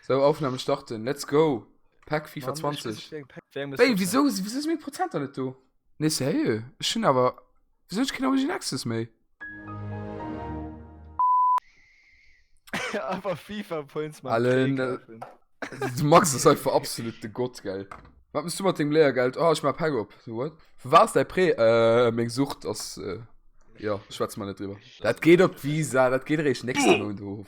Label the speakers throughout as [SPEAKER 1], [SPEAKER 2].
[SPEAKER 1] So, Aufnahme starten, let's go! Pack FIFA 20. Ey, wieso, wieso ist mir Prozent da nicht do? Nee, sérieux? Ich hun aber. Wieso ich keine Origin Access méi?
[SPEAKER 2] Aber FIFA Points man Allen, äh,
[SPEAKER 1] Du Max ist einfach absolut de Gott, gell? Was musst du mit dem Lehrgeld? Oh, ich mach Pack op. So, what? Wo war's dein Prä? Äh, meng Sucht, das, äh, ja, schwätz mal nicht drüber. Das geht op Visa, das geht recht nächsten Monat hoch.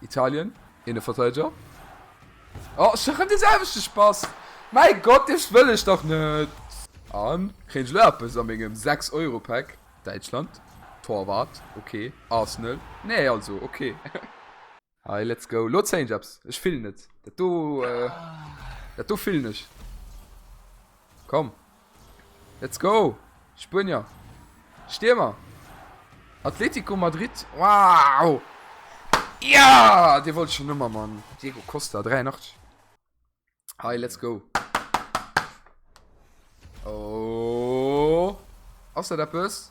[SPEAKER 1] Italien, Eene Verteideger. Oh, ech maachen dee selwechte Spass! Mäi Gott, Däischt wëll ech dach net! A kréien ech elo eppes a mengem Sechs-Euro-Päck? Däitschland, Torwart, ok. Arsenal, nee, also ok. Hei, let's go! Elo zéien ech eppes. Ech fillen et. Dat do, dat do fillen ech. Komm, Let's go! Spuenier! Stiermer! Atletico Madrid! Wow! Ja! Dee wollt ech schonn ëmmer, Mann! Diego Costa, 83. Hei, let's go! Oh! Ass dat eppes?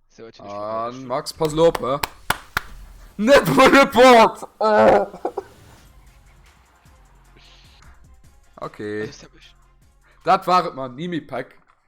[SPEAKER 1] An Max pass lo op. Net vu de Port! Oh! Okay. Dat war et man Nimi Pack.